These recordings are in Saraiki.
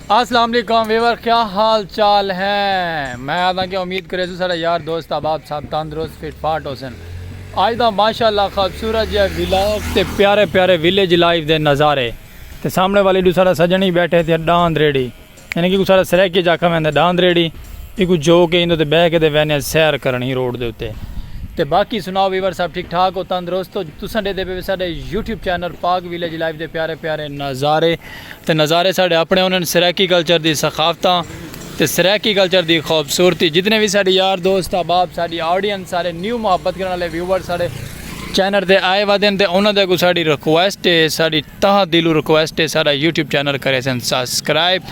اسلام علیکم ویور کیا حال چال ہیں میں آدھاں کہ امید کریسوں سارا یار دوست احباب سب تندرست فٹ فاٹ ہوسن آج دا ماشاءاللہ خوبصورت جیا ویلاگ تے پیارے پیارے ویلیج لائف دے نظارے تے سامنے والی ڈو سارا سجنی بیٹھے تھے ڈاند ریڈی یعنی کہ کو سارا سریکی جا کھا ویندے ڈاند ریڈی ایکو جو کہ اندو تے بہ کے دے وینے سیر کرنی روڈ دے اتے تے باقی سناؤ ویور سب ٹھیک ٹھاک ہو تندرست ہو تساں دے دے پہ سارے YouTube channel Pak village life دے پیارے پیارے نظارے تے نظارے ساڈے اپنے ہونن سرائیکی کلچر دی ثقافتاں تے سرائیکی کلچر دی خوبصورتی جتنے وی ساڈے یار دوست احباب ساڈی آڈینس سارے نیو محبت کرن والے ویوئر ساڈے چینل تے آئے ودن تے انہاں دے اگوں ساڈی ریکویسٹ ہے ساڈی تہہ دلوں ریکویسٹ ہے ساڈا یوٹیوب چینل کریسن سبسکرائب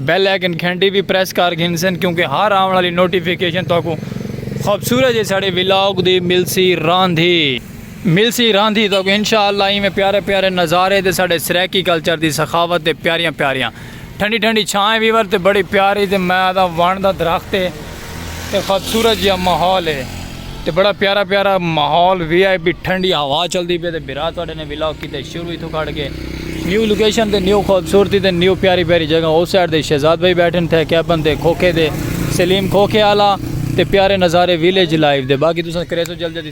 بیل آئیکن گھنٹی وی پریس کر گھنسن کیونکہ ہر آون والی نوٹیفیکیشن تہاکوں خوبصورت جے ساڈے ولاگ دی ملسی راندھی ملسی راندھی تک انشاء اللہ ایویں پیارے پیارے نظارے تے ساڈے سرائیکی کلچر دی سخاوت تے پیاریاں پیاریاں ٹھنڈی ٹھنڈی چھاں اے ویور تے بڑی پیاری تے میں آدھاں وݨ دا درخت اے تے خوبصورت جیا ماحول اے تے بڑا پیارا پیارا ماحول وی آئی پی ٹھنڈی ہوا چلدی پے تے بھرا تہاڈے نے ولاگ کیتے شروع ایتھوں کھڑ کے نیو لوکیشن تے نیو خوبصورتی تے نیو پیاری پیاری جگہ او سائیڈ تے شہزاد بھائی بیٹھن تھے کیبن تے کھوکھے دے سلیم کھوکھے آلا تے پیارے نظارے ویلیج لائف دے باقی تساں کریسو جلد جلدی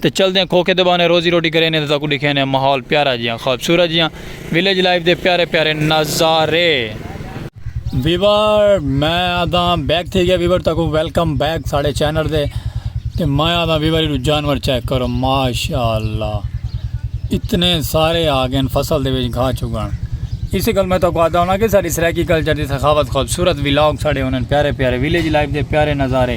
تے چلدیاں کھوکھے دے بہانے روزی روٹی کرینے تے تہاکوں ڈکھینے ماحول پیارا جیہاں خوبصورت جیہاں ویلیج لائف دے پیارے پیارے نظارے۔ ویور میں آدھاں بیک تھی گیا ویور تہاکوں ویلکم بیک ساڈے چینل دے تے میں آدھاں ویور ایڈو جانور چیک کرو ماشاءاللہ اتنے سارے آگن فصل دے وچ گھا چگن اسی گل میں تہاکوں آدھا ہونا کہ ساڈی سرائیکی کلچر دی سخاوت خوبصورت ویلاگ ساڈے ہونن پیارے پیارے ویلیج لائف دے پیارے نظارے۔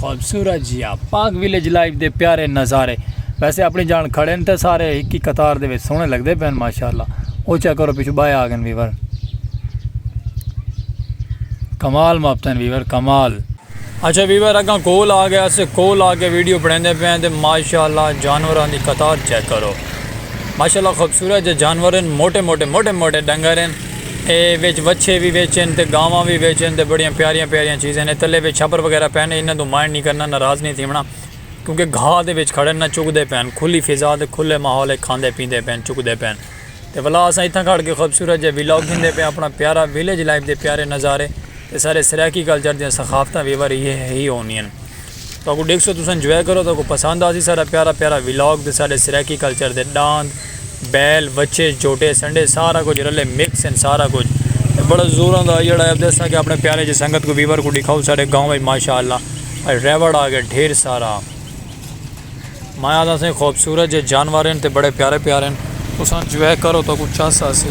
خوبصورت جیا پاک ویلیج لائف دے پیارے نظارے ویسے اپنی جان کھڑے ہن تے سارے ہک ہی قطار دے وچ سوہنے لگدے پئے ہن ماشاءاللہ او چیک کرو پچھوں بائے آگن ویور کمال مابتن ویور کمال اچھا ویور اگاں کول آ گیا اسے کول آ کے ویڈیو بنیندے پئے ہیں تے ماشاءاللہ جانوراں دی قطار چیک کرو ماشاءاللہ خوبصورت جے جانور ہیں موٹے موٹے موٹے موٹے ڈنگر ہیں اے وچ وچھے وی وچ ہن تے گاواں وی وچ ہن تے بڑیاں پیاریاں پیاریاں چیز ہن اے تلے وچ چھپر وغیرہ پئے نے انہاں توں مائنڈ نہیں کرنا ناراض نہیں تھیونا کیونکہ گھاہ دے وچ کھڑے نہ چگ دے پئن کھلی فضا تے کھلے ماحول اچ کھاندے پیندے پئن چگ دے پئن تے ولا اساں اتھاں کھڑ کے خوبصورت جے ولاگ گھندے پئے اپنا پیارا ویلیج لائف دے پیارے نظارے تے سارے سرائیکی کلچر دیاں ثقافتاں ویور ہی ہونیاں۔ تہاکوں ڈیکھسوں تساں انجوائے کرو تہاکوں پسند آسی ساڈا پیارا پیارا ولاگ تے ساڈے سرائیکی کلچر دے ڈاند بیل وچھے جھوٹے سنڈے سارا کجھ رلے مکس ان سارا کجھ تے بڑا زور آندا ہو جیڑا ابدے اساں کے اپنے پیارے جے سنگت کو ویور کو ڈکھاؤ ساڈے گاؤں وچ ماشاءاللہ ریوڑ آگے ڈھیر سارا۔ میں آہدا سئیں خوبصورت جئے جانور ہن تے بڑے پیارے پیارے ہن۔ تساں جوئے کرو تہاکوں چس آسی۔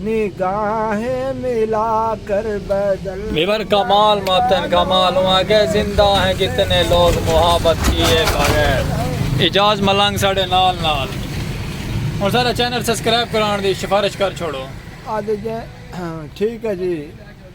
نگاہیں ملا کر بدل۔ میون کمال ماتن کمال ہوں آگے زندہ ہیں کتنے لوگ محابت کیے بغیر۔ اعجاز ملنگ ساڈے نال نال ہن سارا چینل سسکرائب کران دی شفارش کر چھوڑو۔ ادھ جے ٹھیک ہے جی۔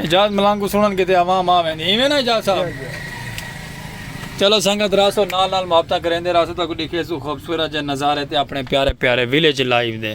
اعجاز ملنگ کوں سنڑن کیتے عوام آ ویندی ایویں نا اعجاز صاحب چلو سنگت راسو نال نال محبتاں کریندے راسو تہاکوں ڈکھیسوں خوبصورت جے نظارے تے اپنے پیارے پیارے ویلیج لائیو دے۔